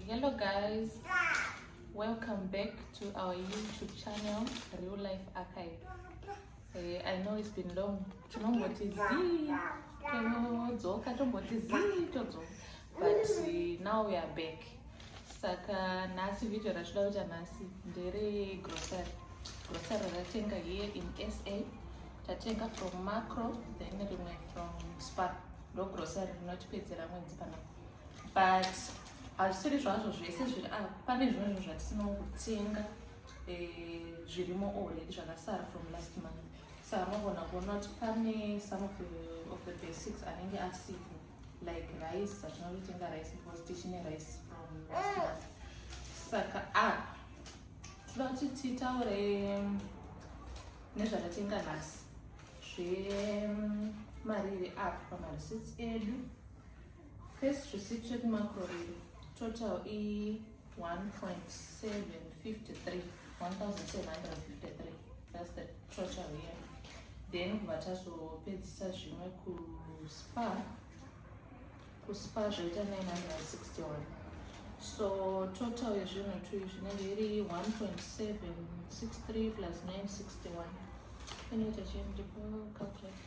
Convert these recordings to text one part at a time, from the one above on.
Hello guys. Welcome back to our YouTube channel Real Life Archive. Eh, I know it's been long. Tinomboti zii todzoka tomboti zii todzoka but uh, now we are back. Saka nhasi video ratinoda kuita nhasi ndere grocery. Grocery ratenga here in SA. Tatenga from Macro then rimwe from Spar. Ndo grocery rinotipedzera mwedzi panapa. but hazvisiri zvazvo zvese zviri apa ah, pane zvimwe zvinhu zvatinotenga eh, zvirimo already zvakasara from last month so anogona kuona kuti pane some of the, of the basics anenge asipo like rice zvatinototenga rice because tichine rice from last month saka apa ah, toda kuti titaure mm, nezvatatenga nhasi zvemariri mm, apa pamareseits edu First receipt check macro riri total i 1.753 1753 that's the total here then kubva tazopedzisa zvimwe kuspa kuspa zvoita 961 so total yezvinhu two zvinenge iri 1.763 plus 961 inoita chii ndipo calculate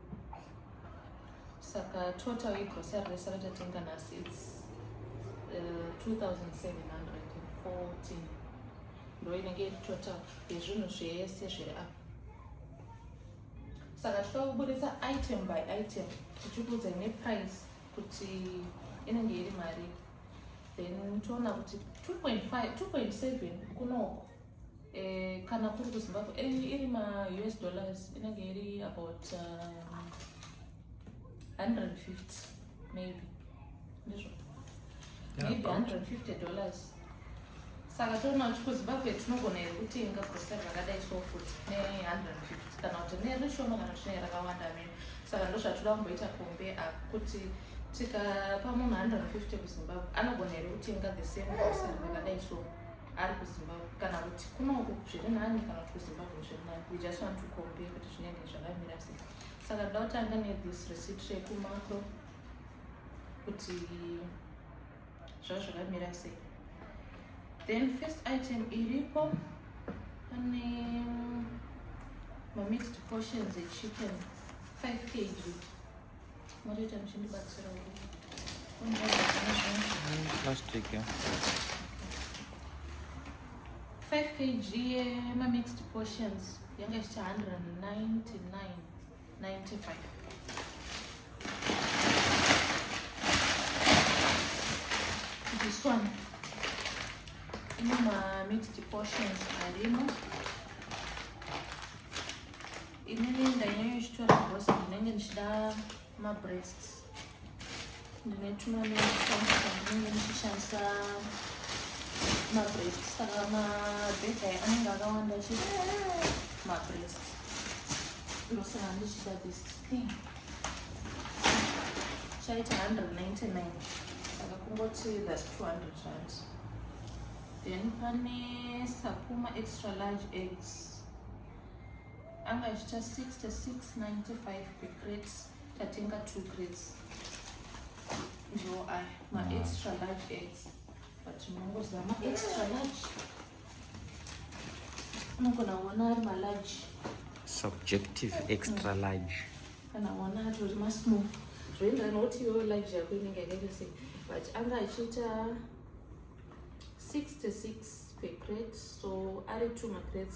saka total yegrocery rese ratatenga nhasi its uh, 2714 ndo inenge iri total yezvinhu zvese zviri apa saka tichida kuburitsa item by item tichikuudzai neprice kuti inenge iri mari then toona kuti 2.7 kunoko Eh, kana kuri kuzimbabwe eh, iri maus dollars inenge iri about um, 150 maybe ndizvo maybe 150 dollars saka toona kuti kuzimbabwe tinogona here kutenga grosari rakadai so futi ne150 kana kuti nerishoma kana kuti nerakawanda mino saka ndozvatoda kumboita kombe apo kuti tikapa munhu 150 kuzimbabwe anogona here kutenga the same grosari rakadai so ari kuzimbabwe kana kuti kunongo zviri nani kana kuti kuzimbabwe zviri nani we just want to compare kuti zvinenge zvakamira sei saka toda kutanga nethis receipt rekumako kuti zvava zvakamira sei then first item iripo pane mamixed portions echicken 5 kg Motoita muchindibatsira plastic yeah. 5 kg yema mixed portions yanga ichita 199.95 this one ine ma mixed portions arimo inini ndanyanya ichitora bhosa ndinenge ndichida mabreast ndine tumwe ndinenge ndichishandisa mabreast saka mabhedha anenge akawanda chi mabreast ndosaka ndichida this thing chaita 199 saka kungoti that 200 rand then pane sapuma extra large eggs anga achiita 6695 per crate tatenga two crates ndiwo aya maextra large eggs but unongoziva maextra large unogona kuona ari malarge subjective extra mm. large kana kuona atori masmall zvoendera nokuti iwewo large yako inenge yakaita sei but anga achiita 66 per crate so ari two macrates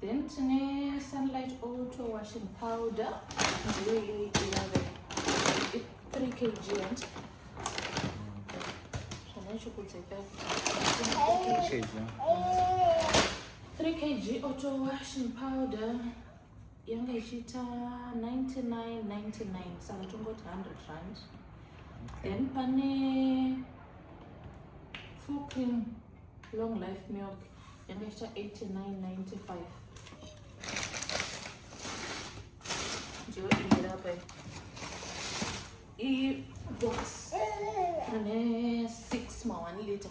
then tine sunlight auto washing powder ndiyo iyoyi inove 3 kg and zvanachokudzeka 3 kg auto washing powder yanga ichiita 9999 saka tongoti 100 rand then pane full cream long life milk yakaita 89.95 ndiyo iyi apa iyi box ine 6 ma 1 liter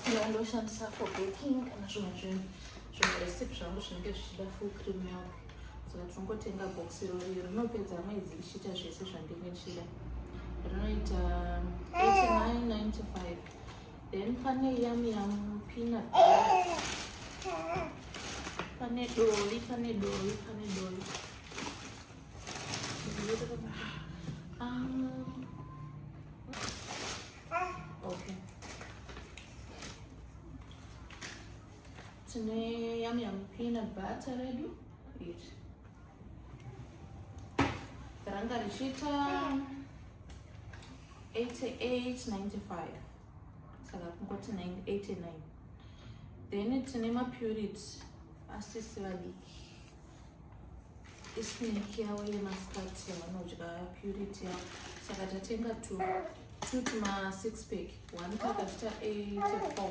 iyo ndoshandisa for baking kana zvimwe zvinhu zvimwe recipe zvangu zvinenge zvichida full cream milk saka tinongotenga box irori rinopedza mwedzi ichiita zvese zvandinge ndichida rinoita 89.95 Then pane yam yam peanut. Pane doli, pane doli, pane doli. Um, okay. Tine yam yam peanut butter redu. Iri. Ranga richita 8895 saka kungoti 89 then tine mapurity asisi vadiki isineki yavo yemasikati yavanodya purity yavo saka tatenga two two tuma six pack one pakatita 84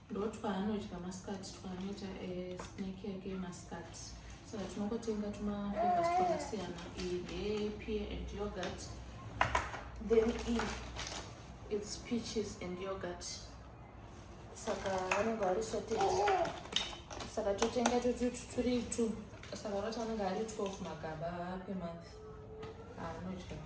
ndotwaanodya masikati twanoita eh, snack yake yemasikati so tinongotenga tumaflavors twakasiyana iyi ndeyepear and yogurt then iyi its peaches and yogurt saka vanenge vari sote saka totenga totuturi two saka roti anenge ari 12 magaba per month anodya ah,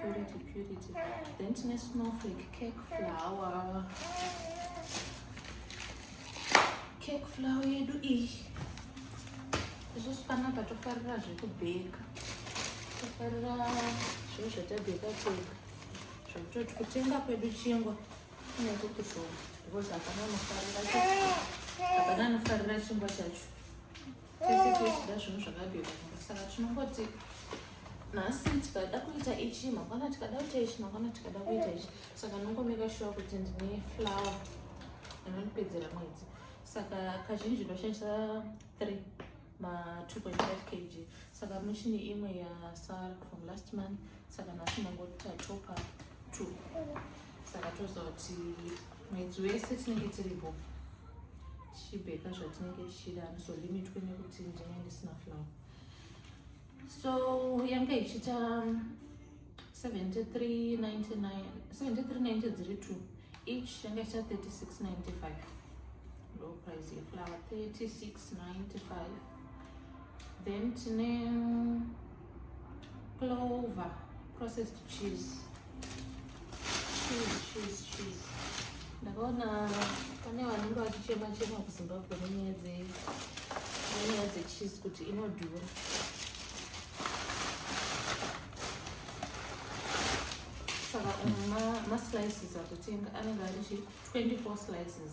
purity purity then tine snowflake cake flower cake flower yedu iyi isusu panapa tofarira zvekubheka tofarira zviro zvatabheka tega zvekutoti kutenga kwedu chingwa kunenge kushoma because hapana anofarira chingwa chacho tese tochida zvinhu zvakabhekwa saka tinongoti nhasi tikada kuita ichi mangwana tikada kuita ichi mangwana tikada kuita ichi saka nongomeka shuwa kuti ndine flower inondipedzera mwedzi saka kazhinji ndoshandisa three ma 2.5 kg saka muchini imwe yasara from last month saka nhasi mangotita topa two saka toziva kuti mwedzi wese tinenge tiripo tichibheka zvatinenge tichida handizolimithwe nekuti ndinenge ndisina flower so yange ichiita 73 dziri two each yange ichiita 3695 low price yeflower 3695 then tine clover processed cheese ndakaona pane vanenge vachichema chema kuzimbabwe nenyaya nenyaya dzecheese kuti inodhura saka maslices akutenga anenge ari chi 24 slices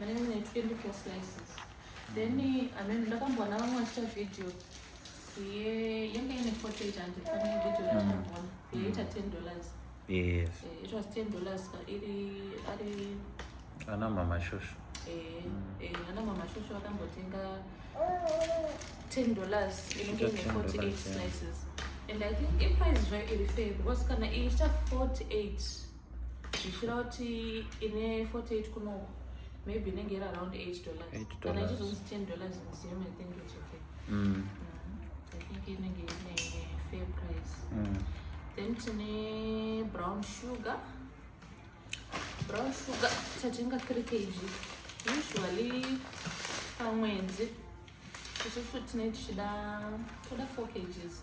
vanenge mune 24 slices then amene ndakamboona vamwe vachita video yenge ine 48 and pane video ndakamboona yaita 10 dollars yes eh, it was 10 dollars iri ari ana mama shosho eh, eh, ana mama shosho vakambotenga 10 dollars inenge ine 48 slices and i think iprice zvayo iri fair because kana iita 48 ndichira kuti ine 48 kuno maybe inenge iri around 8 dollars kana ichizonzi 10 dollars museum i think it's okay mm. Mm. i think inenge ine fair price mm. then tine brown sugar brown sugar tatenga 3 kg usually pamwedzi isusu tine tichida toda 4 kgs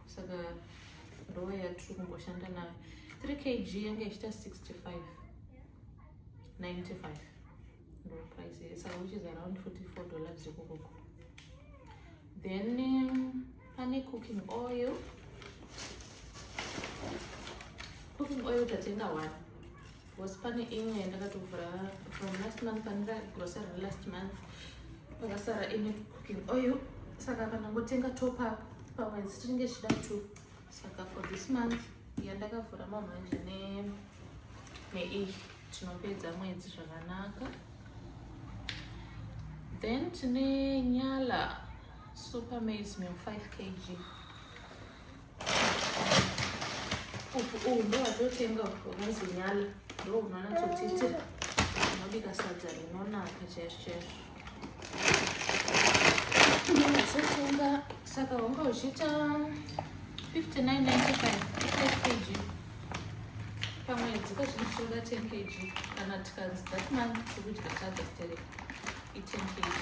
saka rowa yatiri kumboshanda nayo 3 kg yanga ichiita 65 95 ndo price saka which is around 44 dollars zvekukoko then um, pane cooking oil cooking oil tatenga one Because pane imwe yandakatovhura from last month pandira grocery last month pakasara ine cooking oil saka kana ngotenga top up pamwedzi tinenge tichida two saka for this month yandakavhura mamanje neiyi tinopedza mwedzi zvakanaka then tine nyala super maize meal 5 kg uyu ndowatotenga wakanzi nyala ndo unanatsotsitsira unobika sadza rinonaka chaizvo chaizvo ndinatsotenga saka wanga uchiita 5995 kg pamwedzi kazvinhu tinoda 10 kg kana tikanzi that month tikudya sadza stereka 18 kg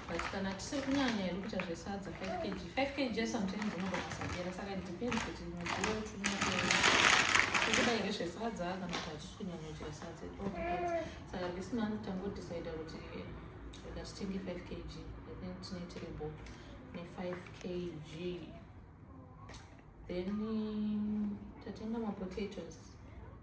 but kana tisiri kunyanya iri kuita zvesadza 5 kg 5 kg sometimes unogona kusagera saka depends kuti mudziyo tikudaire zvesadza kana kuti hatisi kunyanya kuchira sadza saka this month tangodecida kuti rega titenge 5 kg then tinoitire bo ne5 kg then tatenga mapotatoes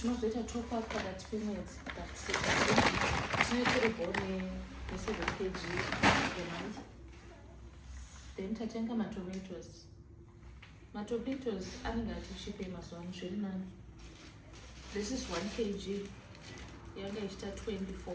tinozoita top up pakati pemwedzi tinoitiribone neseven kg emonth then tatenga matomatoes matomatoes anenge atichipe mazuva ano zviri nani this is one kg yanga ichita 24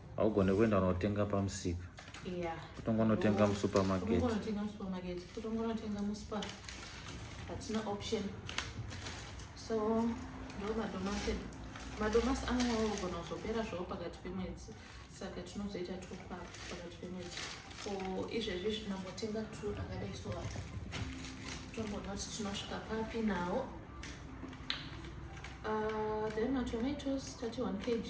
haugone kuenda unotenga pamusika yeah. kutongonotenga musupermarket kutongonotenga musuper hatina option so ndo madomasi madomasi anonyawo kugona kuzopera zvavo pakati pemwedzi saka tinozoita topa pakati pemwedzi ko izvezvi zvinambotenga tu akadai so tomboona kuti tinosvika papi nawo uh, then matomatoes tati 1 kg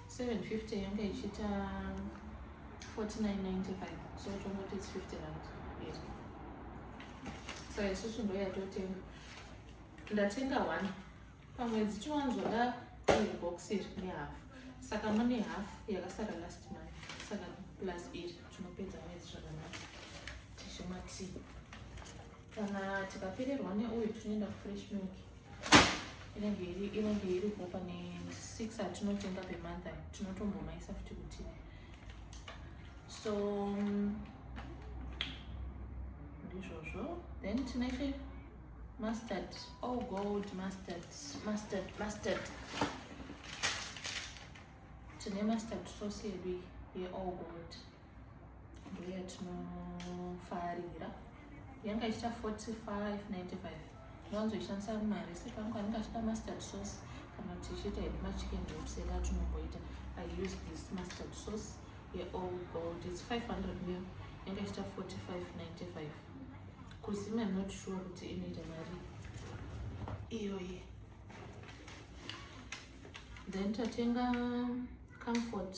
750 yanga ichiita 4995 so tongoti its 50 rand yes. so isusu ndo yatotenga ndatenga one pamwedzi tiwanzwa da iri box iri nehafu saka mune hafu yakasara last month saka plus iri tinopedza mwedzi zvakanaka tichimwa tii kana tikapererwa neuyu tinoenda kufresh milk inenge iri inenge iripo pane six atinotenga pemantha tinotombomaisa futi kuti so mm, ndizvozvo then tinaite mustard all oh, gold mustard mustard mustard tine mustard sauce yedu yeall gold ndoya tinofarira yanga ichita 4595 ndoanzoishandisa mari sepangu anenge achida mustard sauce kana kuti ichiita hedu machicken wraps eka tinomboita i use this mustard sauce yeall gold its 500 mil yanga ichita 4595 kuzima not sure kuti inoita mari iyoyi then tatenga comfort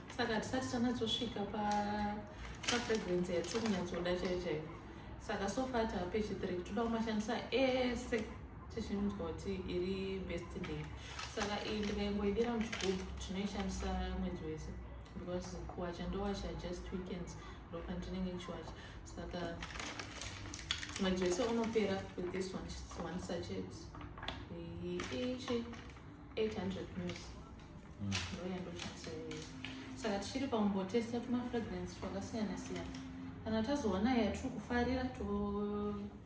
saka hatisati tanatsosvika pafrequency yatiri kunyatsoda chaiyo chaiyo saka sofa taape chithree toda kumashandisa ese tichinzwa kuti iri best day saka iyi ndikaingoidira muchigubhu tinoishandisa mwedzi wese because kuwacha ndowacha just weekends ndopandinenge ndichiwacha saka mwedzi wese unopera with this one, one sachet iichi 800 news mm. ndouya ndochasaiwa saka tichiri pakumbotesta tumafragrance twakasiyana siyana kana tazoona yatiri kufarira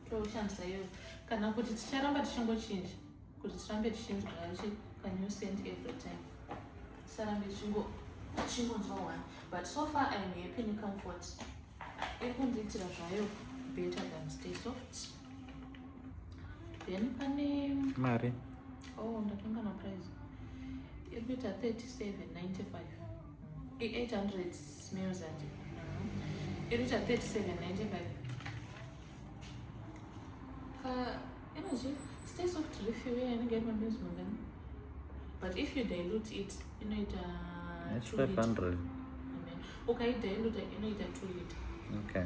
toshandisa to iyoyo kana kuti ticharamba tichingochinja kuti tirambe tichinzwa yachi kanew sent every time tisarambe tichingonzwa one but so far iam happy necomfort ikundiitira zvayo better than stay soft then pane mari oh ndatenga na price ekuita 3795 i800 meals and ekuita 3795 ka energy stay soft refill ye inenge iri mameals mangani but if you dilute it inoita 500 ukaidiluta inoita 2 liter okay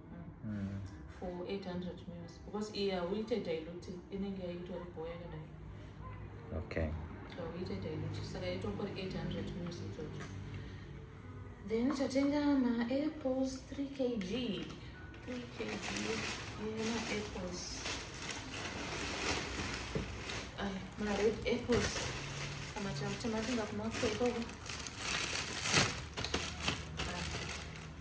mm. for 800 mils because iye hauite dilute inenge yaitori bho yakadai okay hauite dilute saka itongori 800 mils ichocho then tatenga maapples 3 kg 3 kg nemaapples mared apples amatakuti matinga kumakwekoko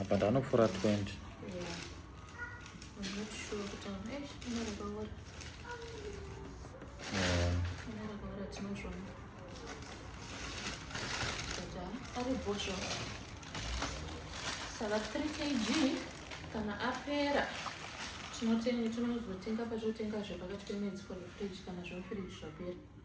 apa ndanopfuura 20 saka 3 kg kana apera tinozotenga patotenga zvepakati pemwedzi for the fridge kana zvemufridge zvapera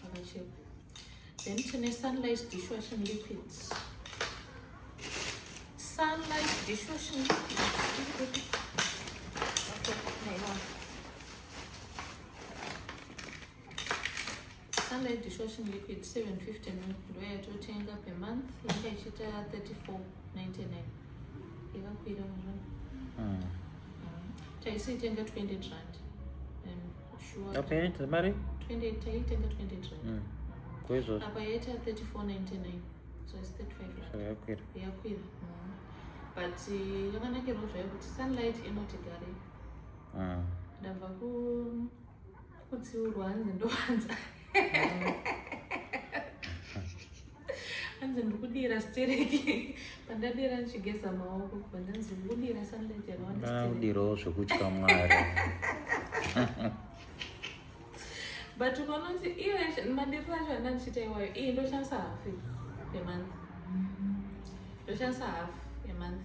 zvakachekwa then tine sunlight dishwashing liquids sunlight dishwashing liquids sunlight dishwashing liquid 750 ml ndo yatotenga per month yanga ichiita 3499 yakakwira muzvana hmm. taisiitenga 20 rand Sure. Apa yaita mari? 28 taitenga 28 rand. Mm. Ko izvozvo. Apa yaita 34.99. So it's 35 rand. So yakwira. Yakwira. Mm. But uh, yakanakirwa zvayo kuti sunlight inoti gare. Mm. Ndabva ku kutsiurwa hanzi ndowanza. Mm. hanzi ndiri kudira stereki pandadira ndichigeza maoko pandanzi ndiri kudira sunlight yakawandakudirawo zvekutya mwari but ukanoti iyo madiriro acho anda ndichiita iwayo iyi ndoshandisa hafu yemanth ndoshandisa hafu yemanth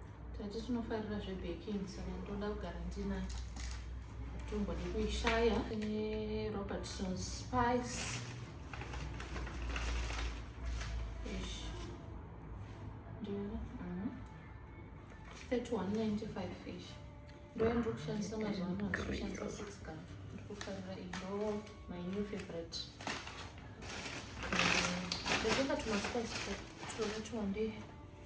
Tati tinofarira zvebaking saka ndoda kugara ndina tumbo nekuishaya nerobertson spice ish ndiyo mhm. 3195 fish ndoya ndiri kushandisa mazuva ano ndikushandisa six gun ndiri kufarira indo my new favorite ndezvakatumaspice tunotuwandei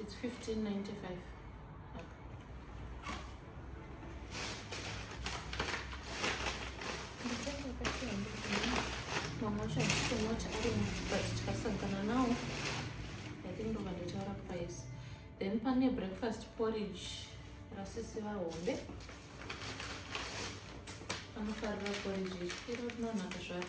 It's 1595. Mama should still not arrange, but tikasangana now. I think we're going to tell price. Then pane breakfast porridge rasisi vahombe anofarira porridge iro rinonaka zvaro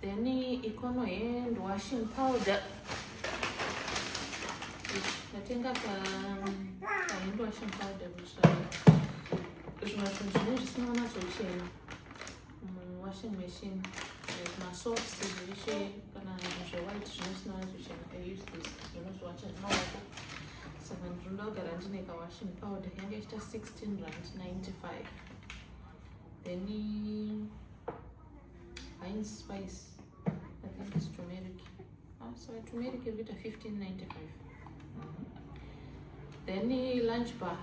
then ikono hand washing powder ndatenga ka hand washing powder kutsvaya zvimwe zvinhu zvine zvisina kunatsochena muwashing machine like masocks zveshe kana zvewhite zvine zvisina kunatsochena i use this zvinozviwacha zvemaoko saka ndinoda kugara ndine kawashing powder yange ichita 16 rand 95 then heinz spice i think it's turmeric ah, so turmeric iri kuita 1595 then lunch bar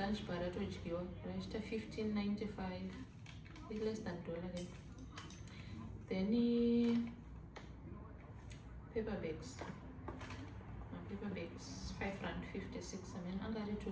lunch bar ratodyiwa raichita 1595 less than dollar then then paper bags paper bags 5 rand 56 i mean angarito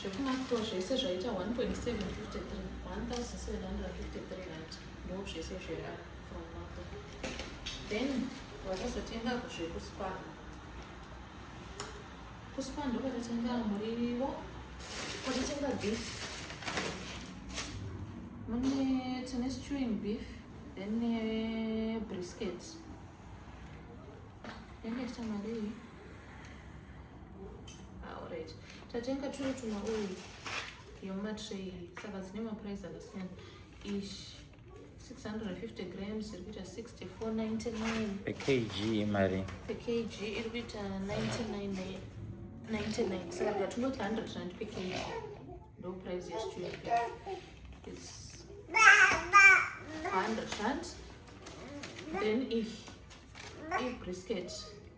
zvekumafro zvese zvaita 1.753 1753 rand ndo zvese zvera from mafro then vakazotenga zvekuspan kuspan ndokatatenga murivo kwatatenga beef mune tine stewing beef then nebrisket yakaita marii Alright. Tatenga turi tuma oil yoma tray saka dzine ma price akasiyana. Ish 650 grams iri kuita 64.99 per kg mari. Per kg iri kuita 99 99 saka tikatungoti 100 rand per kg ndo price yestudio is 100 rand then iyi ibrisket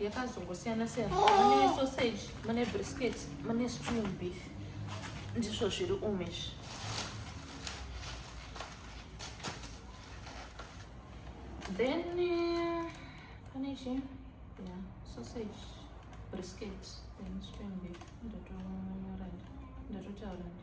yakazongosiyana siyana mune sausage mune brisket mune spoon beef ndizvo zviri umu izvi then eh, pane chi ya sausage brisket then spoon beef ndatotaura ndi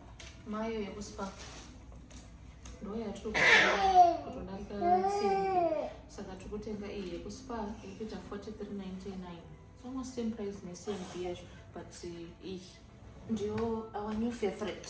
Mayo yekuspa ndo yatiri kutodarika saka tiri kutenga iyi yekuspa iri kuita 4399 almost same price necmb yacho but iyi ndiyo our new favorite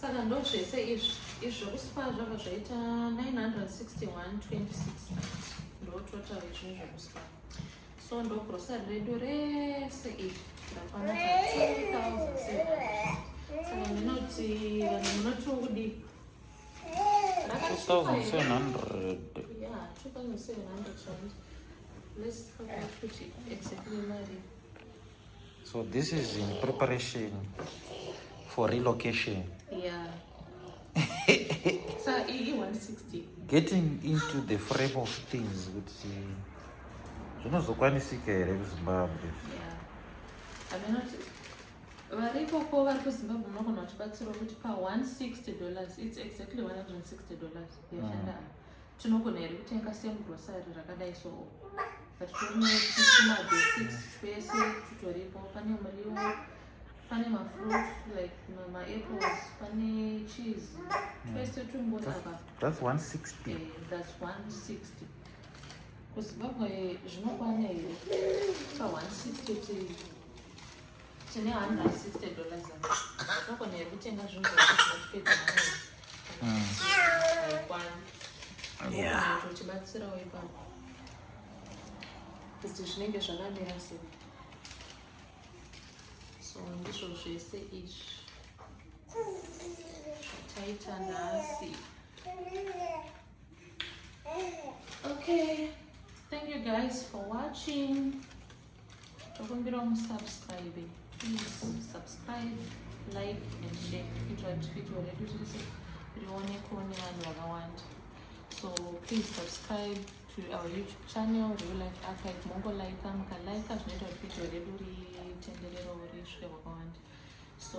saka ndo zvese izvi izvi zvekuspa zvabva zvaita 96126 ndo total izvini zvekuspa so ndo grocery redu rese iri rakwana 2700 saka ndinoti vanhu munoti ukudii rakasvika 2700 ya 2700 rand let's figure out kuti exactly mari So this is in preparation for relocation. Yeah. so e 160. Getting into the frame of things with the zvinozokwanisika here kuzimbabwe varipo ko vari kuzimbabwe unogona kuchibatsirwa kuti pa 160 dollars its exactly 160 dollars yashanda mm. tinogona here kutenga same grocery rakadai so but tinoisima basics twese tutoripo pane muriwo pane mafruit like maapples pane cheese hmm. twese tungoti apa that's 160 eh, that's 160 kuzimbabwe zvinokwana here pa 160 tii tine 160 dollars zvakona here kutenga zvinhu zvakupedza maikwani uchibatsirawo ipapo kuti zvinenge zvakamira sei so ndizvo zvese izvi zvataita nhasi okay thank you guys for watching tokumbirawo musubscribe please subscribe like and share kuitira kuti video redu rese rionekwo nevanhu vakawanda so please subscribe to our youtube channel real life archive mongolaika mukalaika zvinoita kuti video redu ritenderero risvike kwakawanda so